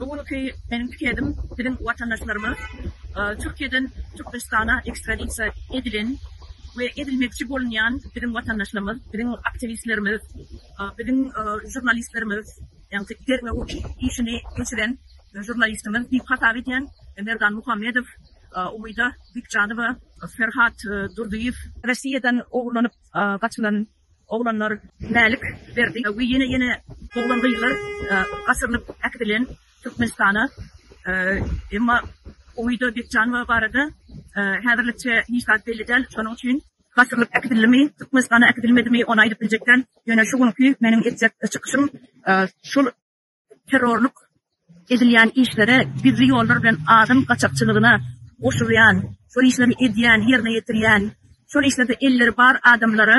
Bu günki meniň pikedim biziň watandaşlarymyz Türkiýeden Türkmenistana ekstradisiýa edilen we edilmekçi bolunýan biziň watandaşlarymyz, biziň aktiwistlerimiz, biziň žurnalistlerimiz, ýagny derňew işini geçiren žurnalistimiz diýip hasap edýän Merdan Muhammedow, Umyda Bikjanowa, Ferhat Durdyýew. Russiýadan ogurlanyp gaçylan Oglanlar, Mälik, Berdi we ýene-ýene oglan-gyzlar gaçyrylyp äkidilen Türkmenistana. Emma Umyda Bekjanowa barada häzirlikçe hiç zat belli däl. Şonuň üçin. Gaçyrylyp äkidildimi, Türkmenistana äkidilmedimi, ony aýdyp biljek däl. Ýöne şu günki meniň etjek çykyşym şul. terrorlyk edilýän işlere, gizli ýollar bilen adam gaçakçylygyna goşulýan, şol işleri edýän, ýerine ýetirýän, şol işlerde elleri bar adamlara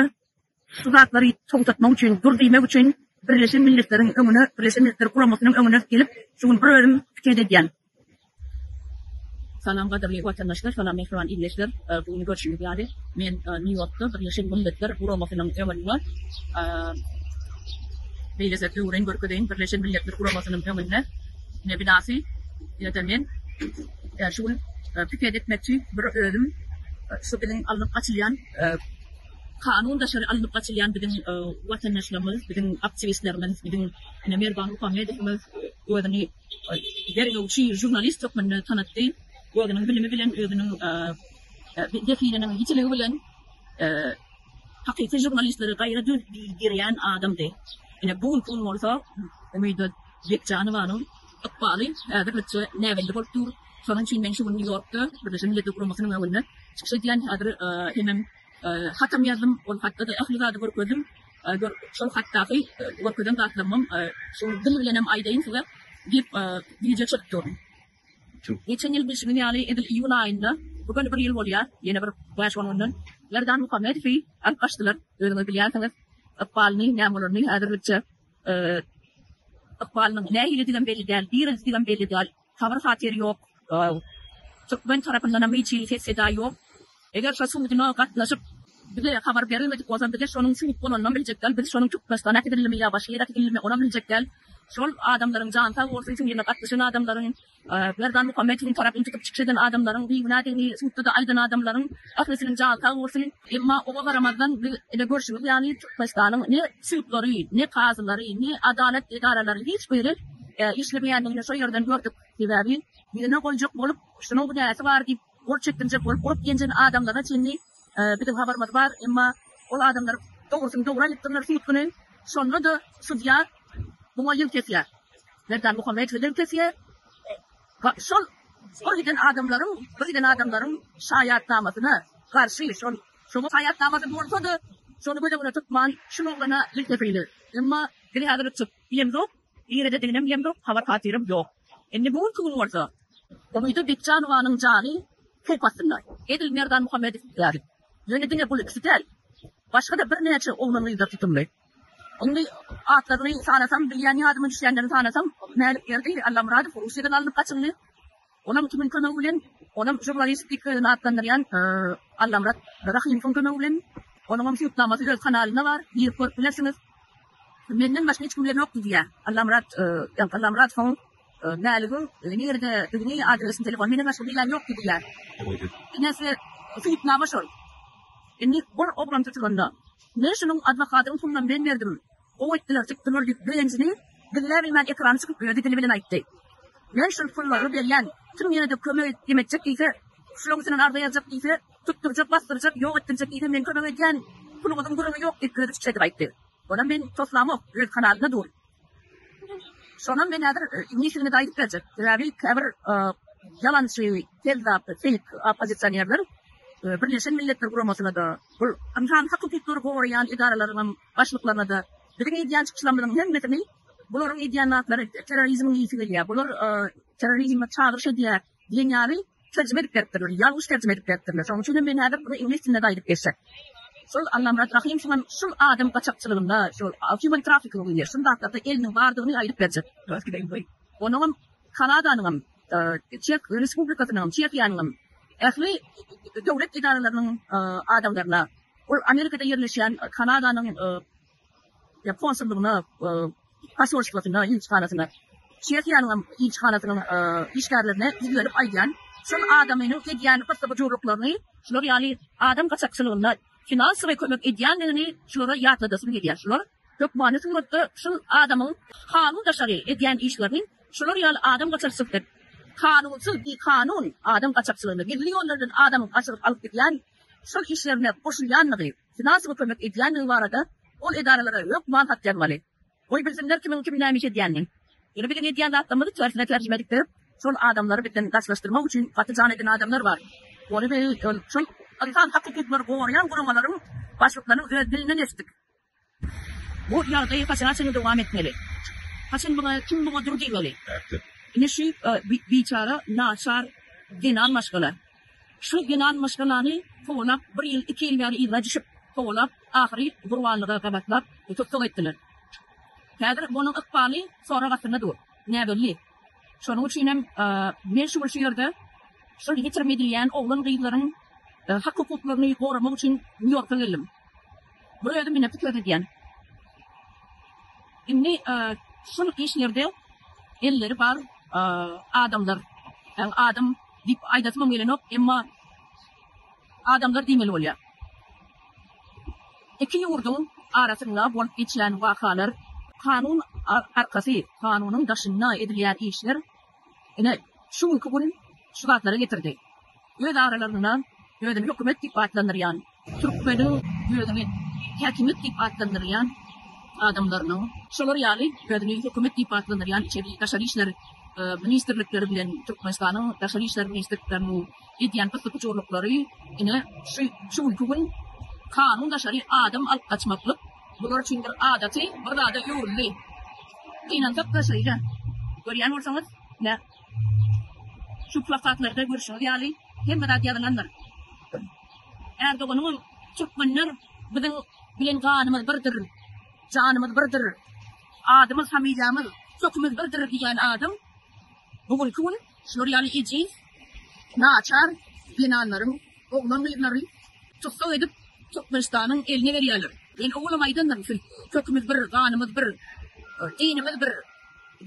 şu zatlary togtatmak üçin, dur diýmek üçin Birleşen Milletleriň öňüne, Birleşen Milletler Guramasynyň öňüne gelip, şu gün bir özüm pikeet edýän. Salam gadyrly watandaşlar salam mähriban ildeşler bu gün görşüňiz ýaly men nýu ýorkda birleşen milletler guramasynyň öňünde beýle size döwüreýin görkezeýin birleşen milletler guramasynyň öňünde ne binasy ýa-da men şu gün piket etmekçi bir özüm şu biziň alnyp gaçylýan kanun daşary alnyp gaçylýan biziň watandaşlarymyz biziň aktiwistlerimiz biziň ine merdan muhammedowymyz özüni Ol derňewçi žurnalist hökmünde tanatdy. Özüniň bilimi bilen, özüniň zehininiň ýitiligi bilen hakyky žurnalistleri gaýra döwdirýän adamdy. Ine, bu günki gün bolsa Umyda Bekjanowanyň ykbaly häzirlikçe näbelli bolup dur. Şonuň üçin men şu gün Nýu-Ýorkda Birleşen Milletler Guramasynyň öňünde çykyş edýän. Häzir hemem hatam ýazdym. Ol hatda-da ähli zady görkezdim. Gör, şol hatdaky görkezen zatlarymam şol dil bilenem aýdaýyn size diýip, wideo çekip durdum. Geçen ýyl bilşiňiz ýaly, edil iýul aýynda, bu gün bir ýyl bolýar, ýene bir bäş-on günden Merdan Muhammedowy alyp gaçdylar. Özüňiz bilýänsiňiz, ykbalyny, näme bolaryny häzirlikçe. Ykbalynyň nähilidigem belli däl, direldidgem belli däl. Habar-hatyr ýok. Türkmen tarapyndanam hiç hili ses-seda ýok. Eger şo suduna gatnaşyp, bize habar berilmedik bolsa, bize şonuň sud bolanynam biljek däl. Biz şonuň Türkmenistana äkidildimi ýa başga ýere äkidildimi, onam biljek däl. Şol adamlaryň jany sag bolsun, şo ýerine gatnaşan adamlaryň, Merdan Muhammedowyň tarapyny tutup çykyş eden adamlaryň, bigünä degeni sudda-da aýdan adamlaryň Ählisiniň jany sag bolsun. Emma oňa garamazdan biz ine görşümiz ýaly Türkmenistanyň ne sudlary, ne kazylary, ne adalat edaralary hiç biri işlemeýändigini şo ýerden gördük. Sebäbi birine goýjak bolup şunuň günäsi bar diýip gol çekdirjek bolup urup-ýenjen adamlara çenli biziň habarymyz bar. Emma ol adamlar dogrusyny dogry aýdypdyrlar sud güni. Şonda-da sudýa muňa ýüz kesýär. Merdan Muhammedow ýüz kesýär. Şol şol giden adamlaryň bir giden adamlaryň şaýatnamasyna garşy şol şoňa şaýatnamasy bolsady şony göz öňüne tutman şul oglana iltepeýli emma diňe häzir çyk ýemzok nirede diginem ýemzok habar hatyrym ýok indi bu günki gün bolsa Umyda Bekjanowanyň jany howp astynda edil Merdan Muhammedow ýaly ýöne diňe bul ikisi däl başgada bir näçe oglan gyzlar tutumly Indi atlaryny sanasam, bilýän ýadyma düşýänlerini sanasam, Mälikberdi Allamyradow Russiýadan alnyp gaçyldy. Olam kimiň kömegi bilen? Olam žurnalistik özüni atlandyrýan Allamyrat Rahymowyň kömegi bilen. Onuňam subtnamasy öz kanalynda bar, girip görüp bilersiňiz. Menden başga hiç kimde ýokdy diýýär Allamyrat Allamyradowyň. Mäligiň nirede dygny adresini telefon menen meşgul diýýän ýokdy diýýär. Enesi Suýutnama şol. Indi bir oglan tutulanda Men şunuň adwokatyny puluna men berdim. Gowy etdiler tutdular diýip begenjini gizläbilmän ekrana çykyp özi dili bilen aýtdy. Men şul pullary berýän kim ýene-de kömek et etjek diýse şulaň üstünden arza ýazjak diýse tutdurjak basdyrjak ýok etdirjek diýse men kömek edýän puluňyzyň gürrüňi ýok diýip özi çiçredip aýtdy. Onam men toslamok öz kanalyna dur. Şonam men häzir njisigini gaýdyp berjek. Sebäbi käbir ýalançy, kezzap, feýk oppozisionerler Birleşen Milletler Guramasyna-da, bul ynsan hak-hukuklary goraýan edaralaryňam başlyklaryna-da biziň edýän çykyşlarymyzyň hemmesini bularyň edýän zatlary terrorizmiň ysy gelýär, bular terrorizme çagyryş edýär, Dünýäni terjime edip beripdirler, ýalňyş terjime edip beripdirler. Şonuň üçin hem men häzir muny iňlis dilinde-de aýdyp geçjek. Şol Allamyrat Rahym şu gün şu adam gaçakçylygynda, şu human trafficking diýilýär, şul zatlarda eliniň bardygyny aýdyp berjek. Onuňam Kanadanyňam, Çeh Respublikasynyňam, Çehiýanyňam ähli döwlet edaralarynyň adamlaryna, ol Amerikada ýerleşýän Kanadanyň konsullygyna, poselstwasyna, ilçihanasyna, Çehiýanyň hem ilçihanasynyň işgärlerine ýüzlenip aýdýan, şol adamynyň edýän gyssy-gujurlyklaryny, şular ýaly adam gaçakçylygyna finansowy kömek edýändigini şulara ýatladasym gelýär. Şular hökmany suratda şol adamyň kanun daşary edýän işlerini şular ýaly adam gaçakçysy, kanunsyz, bikanun adam gaçakçylygyna, gizli ýollardan adam gaçyryp alyp gidýän şol işlerine goşulýandygy, Finansowy kömek edýändigi barada ol edaralara hökman hat ýazmaly. Goý bilsinler kimiň kime näme iş edýänini. Ýöne biziň edýän zatlarymyzy tersine terjime edip berip, şol adamlary bizden daşlaşdyrmak üçin gaty jan eden adamlar bar. Ony biz ol şol ynsan hak hukuklary goraýan guramalaryň başlyklarynyň öz dilinden eşitdik. Bu ýagdaý haçana çenli dowam etmeli? Haçan muňa kim muňa dur diýmeli? Ine şu biçara naçar zenan maşgala Şu ýylan myşgalany kowalap, bir ýyl, iki ýyl bäri yzga düşüp, kowalap, ahyry gurbanlyga gabatlap, tussag etdiler. Häzir munuň ykbaly sorag astynda dur. Näbelli. Şonuň üçinem men şu gün şu ýerde şol ýitirim edilýän oglan-gyzlaryň hak-hukuklaryny goramak üçin Nýu-Ýorka geldim. Bir özüm ine pikir edýän. Indi şol işlerde elleri bar adamlar, ýagny adam Diýip aýdasymam gelenok, emma adamlar diýmeli bolýar. Iki ýurduň arasynda bolup geçýän wakalar, kanun arkasy, kanunyň daşynda edilýän işler ine, şu günki gün şu zatlara getirdi. Öz aralarynda özüni hökümet diýip atlandyrýan Türkmeniň özüni häkimiýet diýip atlandyrýan adamlarynyň, şolar ýaly özüni hökümet diýip atlandyrýan içeri, daşary işler ministrlikleri bilen Türkmenistanyň daşary işler ministrlikleriniň edýän gysyp-gujurlyklary ine şu şu günki gün kanun daşary adam alyp gaçmaklyk bular üçin bir adaty bir zada öwrüldi. Gynansak-da şeýle. Görýän bolsaňyz, nä. Şu plakatlarda görşüňiz ýaly hemme zat ýazylandyr. Erdoganyňam Türkmenler biziň bilen ganymyz birdir, janymyz birdir, adymyz familiýamyz, kökimiz birdir diýýän adam bu günki gün şular ýaly ejiz, naçar zenanlaryň oglan gyzlary tussag edip Türkmenistanyň eline berýärler. Men owalam aýdandyryn siz kökimiz bir, ganymyz bir, dinimiz bir.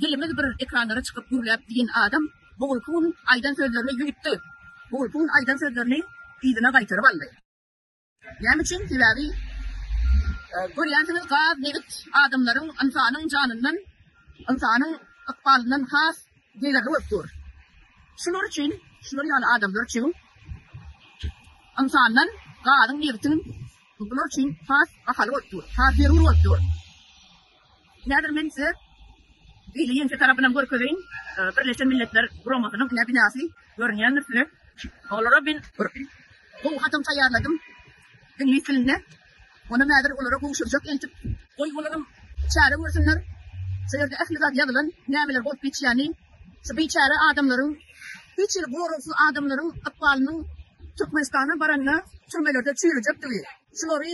Dilimiz bir ekranlara çykyp gürläp diýen adam bu gulky gün aýdan sözlerini ýuýtdy. Bu gulky gün aýdan sözlerini yzyna gaýtaryp aldy. Näme üçin? Sebäbi görýänsiňiz gaz, nebit adamlaryň, ynsanyň janyndan, ynsanyň ykbalyndan has degerli bolup dur. Şular üçin, şular ýaly adamlar üçin ynsandan gazyň, nebitiň bular üçin has bahaly bolup dur, has zerur bolup dur. Häzir men size beýle ýeňse tarapynam görkezeýin. Birleşen Milletler Guramasynyň ine binasy görünýändir size. Olara men bir gowy hatam taýýarladym iňlis dilinde. Onam häzir olara gowşurjak eltip. Goý olaram çäre görsünler. Şu ýerde ähli zat ýazylan, nämeler bolup geçýäni. Şu biçäre adamlaryň, hiç hili goragsyz adamlaryň ykbalynyň Türkmenistana baranda türmelerde çüýrüjekdigi. Şulary.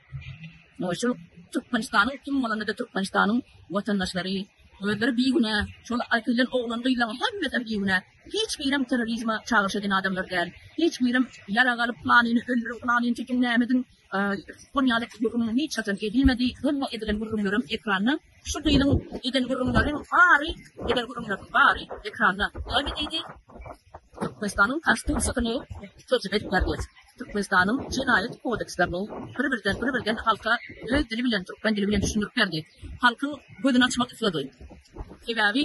Şu Türkmenistanyň kim bolanda-da Türkmenistanyň watandaşlary, özleri bigünä, şol äkedilen oglan-gyzlaryň hemmesi bigünä. Hiç birem terrorizme çagyryş eden adamlar däl. Hiç birem ýarag alyp, planyny öldüriň, planyny çekiň, näme ediň, şuňa ýaly gürrüň hiç haçan edilmedi. Hemme edilen gürrüňlerem ekranda. Şu gyzyň eden gürrüňleriň bary, eden gürrüňleriň bary ekranda. Näme diýdi? Türkmenistanyň Konstitusiýasyny terjime edip ber diýip, Türkmenistanyň Jenaýat kodekslerini bir-birden, bir-birden halka öz dili bilen, türkmen dili bilen düşündirip berdi. Halkyň gözüni açmak isledi. Sebäbi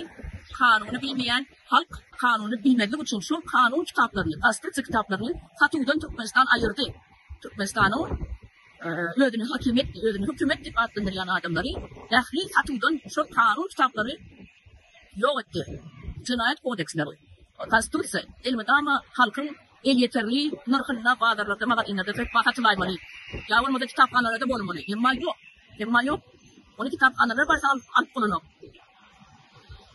kanuny bilmeýän halk kanuny bilmezlik üçin şu kanun kitaplaryny, Konstitusiýa kitaplaryny satuwdan Türkmenistan aýyrdy. Türkmenistanyň özüni hakimiýet, özüni hökümet diýip atlandyrýan adamlary ähli satuwdan şol kanun kitaplary ýok etdi. Jenaýat kodeksleri, Konstitusiýa, elmydama halkyň elýeterli nyrhynda bazarlarda, magazinlerde söz satylaýmaly, ýa bolmasa kitaphanalarda bolmaly. Emma ýok. Emma ýok. Ony kitaphanalar barsa alyp bolanok.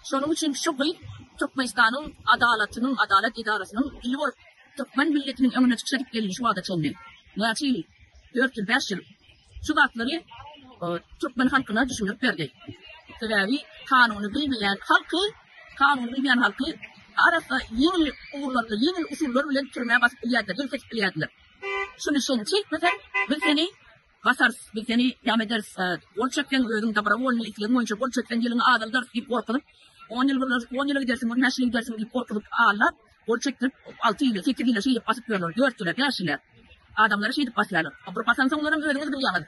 Şonuň üçin şu gyz Türkmenistanyň adalatynyň, adalat edarasynyň ili bolup, türkmen milletiniň öňüne çykyş edip geldi şu wagta çenli. Näçe ýyl? Dört ýyl, bäş ýyl. Şu zatlary türkmen halkyna düşündirip berdi. Sebäbi kanuny bilmeýän halky, kanuny bilmeýän halky arassa ýeňil ugurlarda, ýeňil usullar bilen türmä basyp bilýärdiler, ýelkeşip bilýärdiler. Şuny sen çekmeseň, biz seni. Basarys, biz seni ýam ederis. Gol çekseň, özüň dobrowolnyý, islegiň boýunça gol çekseň, ýylyňy azaldarys diýip gorkuzyp, on ýyl gürleşip, on ýyla gidersiň, on bäş ýyla gidersiň diýip gorkuzyp, aldap, gol çekdirip, alty ýyla, sekiz ýyla şeýdip basyp ýörler, dört ýyla, bäş ýyla. Adamlary şeýdip basýarlar. Bir basansoňlaram özüňiz bilýäňiz,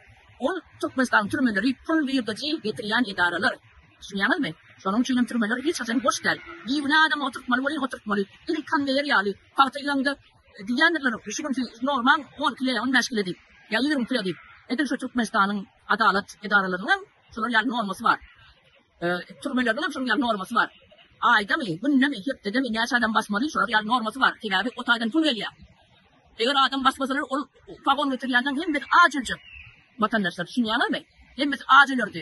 ol Türkmenistanyň türmeleri pul girdeji getirýän edaralar. Düşünýäňizmi? Şonuň üçin hem türmeler hiç haçan boş däl. Bigünä adamy oturtmaly welin oturtmaly. Diňe konweýer ýaly, pagta ýygyňda, Diýýändirler şu gün siz normal on kile ýa on bäş kile diýip, ýa ýigrimi kile diýip. Edil şu Türkmenistanyň adalat edaralarynyň hem şular ýaly normasy bar. Türmeleriň hem şunuň ýaly normasy bar. Aýdamy, gündemi, hepdedemi näçe adam basmaly şular ýaly normasy bar. Sebäbi o taýdan pul gelýär. Eger adam basmasalar ol pagon getirýänleň hemmesi aç öljek. Watandaşlar düşünýäňizmi? Hemmesi aç ölerdi.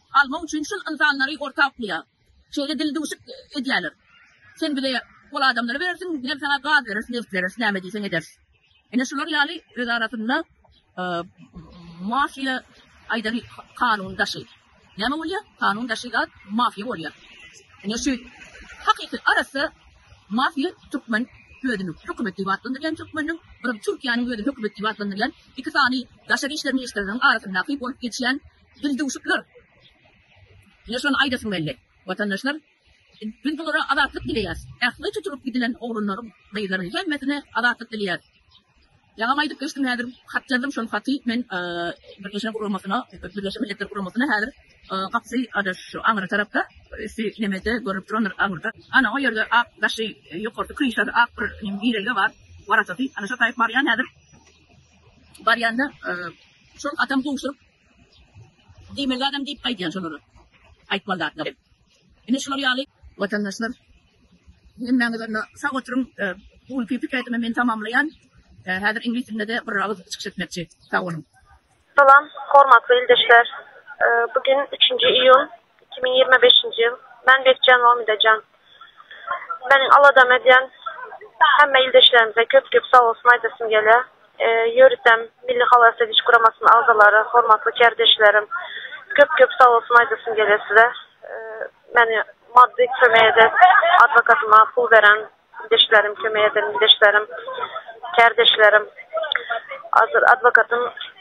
Almak üçin şul ynsanlary orta goýar. Şeýle dildüwşük edýärler. Sen bize ol adamlary berersiň, bizem saňa gaz bereris, neft bereris, näme diýseň ederis. Ine şular ýaly öz arasynda mafiýa aýdary kanun daşy. Näme bolýar? Kanun daşy zat mafiýa bolýar. Ine şu hakyky arassa mafiýa türkmen özüni hökümet diýip atlandyrýan türkmeniň, bir Türkiýäniň özüni hökümet diýip atlandyrýan iki sany daşary işler ministrleriniň arasyndaky bolup geçýän Dildüwşükler! Ýa şony aýdasyň geldi, watandaşlar, biz bulara azatlyk dileýäs. Ähli tutulyp gidilen oglanlaryň, gyzlaryň hemmesine azatlyk dileýäs. Ýaňam aýdyp geçdim, häzir hat ýazdym, şol haty men Birleşen guramasyna, Birleşen Milletler guramasyna häzir gapysy adaş şu aňry tarapda, üsti nemede görnüp durandyr aňyrda. Ana, o ýerde ak daşy, ýokarsy kryşasy ak bir girelge bar, waratasy. Ana, şo taýyp barýan häzir. Barýanda şol hatam gowşuryp, Diýmeli zadam diýip gaýdýan şolara. Aýtmaly zatlar hem. Ine şular ýaly. Watandaşlar hemmäňiz onda sag oturyň. Bu günki pikir aýdymymy men tamamlaýan. Häzir iňlis dilinde-de bir agyz çykyş etmekçi. Sag boluň. Salam, hormatly ildeşler. Bu gün üçünji iýun iki müň ýigrimi beşinji ýyl. Men Bekjan Omida jan. Meniň aladam edýän hemme ildeşlerimize köp-köp sag bolsun aýdasym gelýär. Ýöritdem Milli halas ediş guramasynyň agzalary, hormatly kärdeşlerim, köp-köp sag bolsun aýdasym gelýär size. Meni maddy kömek edip, adwokatyma pul beren ildeşlerim, kömek eden ildeşlerim, kärdeşlerim. Adwokatym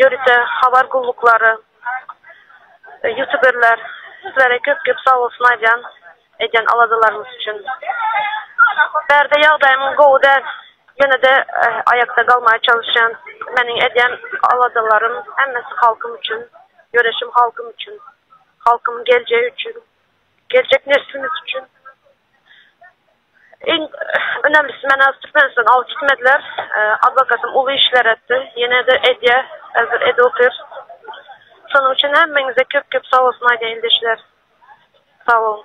Ýörite habar gulluklary, ýutuberler sizlere köp köp sag bolsun aýdýan edýän aladalaryňyz üçin. Bärde ýagdaýymyň gowy däl, ýene-de aýakda galmaga çalyşýan. Meniň edýän aladalarym hemmesi halkym üçin, göreşim halkym üçin, halkymyň geljegi üçin, geljek neslimiz üçin. Iň önemlisi men az Türkmenistan aw gitmediler. Adwokatym uly işler etdi. Ýene-de edýä. Häzir edip otyr. Şonuň üçin hemmeňize köp-köp sag bolsun aýdaýyn ildeşler. Sag boluň.